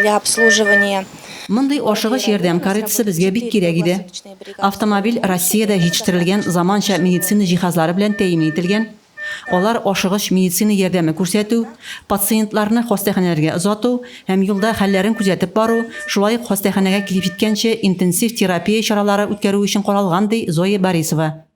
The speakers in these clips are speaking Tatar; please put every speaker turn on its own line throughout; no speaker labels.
для обслуживания Мондый
ашыгыч ярдәм каретасы безгә бик кирәк иде. Автомобиль Россиядә җитештерелгән заманча медицина җиһазлары белән тәэмин ителгән. Алар ашыгыч медицина ярдәме күрсәтү, пациентларны хастаханәләргә озату һәм юлда хәлләрен күзәтеп бару, шулай ук хастаханәгә килеп җиткәнче интенсив терапия чаралары үткәрү өчен каралган, ди Зоя Борисова.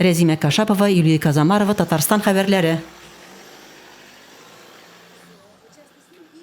Рәзимә Кашапова, Юлия Казамарова, Татарстан хәбәрләре.